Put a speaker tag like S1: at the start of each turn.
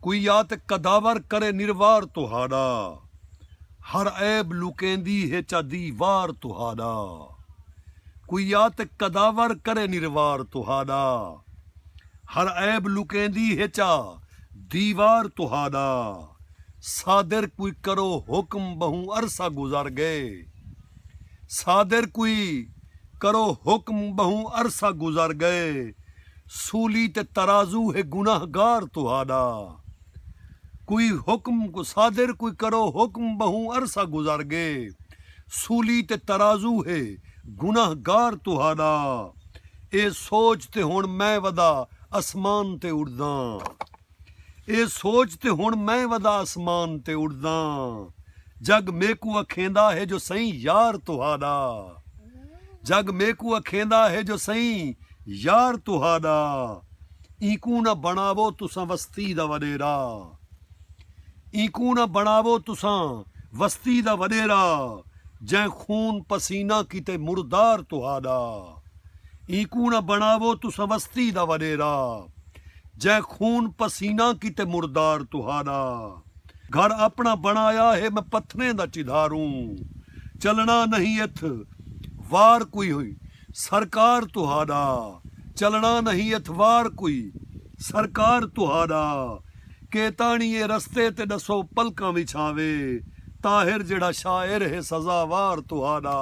S1: کوئی آ تے قداور کرے نروار تہاݙا ہر عیب لکیندی ہے چا دیوار تہاݙا کوئی آ تے قداور کرے نروار تہاݙا ہر عیب لکیندی ہے چا دیوار تہاݙا صادر کوئی کرو حکم ٻہوں عرصہ گزر ڳئے صادر کوئی کرو حکم ٻہوں عرصہ گزر ڳئے۔ سولی تے ترازو ہے گناہ گار تہاڈا کوئی حکم کو صادر کوئی کرو حکم بہوں عرصہ گزر گے سولی تے ترازو ہے گناہ گار تہاڈا اے سوچ تے ہن میں ودا اسمان تے اڈداں۔ اے سوچ تے ہݨ میں ودا اسمان تے اݙداں جڳ میکوں اکھیندا ہے جو سئیں یار تہاݙا جڳ میکوں اکھیندا ہے جو سئیں یار تہاݙا اینکوں نہ بݨاوو تساں وستی دا وݙیرا اینکوں نہ بݨاوو تساں وستی دا وݙیرا جئیں خون پسینہ کیتے مردار تہاݙا اینکوں نہ بݨاوو تساں وستی دا وݙیرا۔ جئیں خون پسیناں کیتے مردار تہاݙا گھر اپݨا بݨایا ہے میں پتھریں دا چدھاروں چلݨا نہیں اتھ وار کوئی سرکار تہاݙا چلݨا نہیں اتھ وار کوئی سرکار تہاݙا کے تاݨی اے رستے تے ݙسو پلکاں وچھاوے طاہر جیڑھا شاعر ہے سزاوار تہاݙا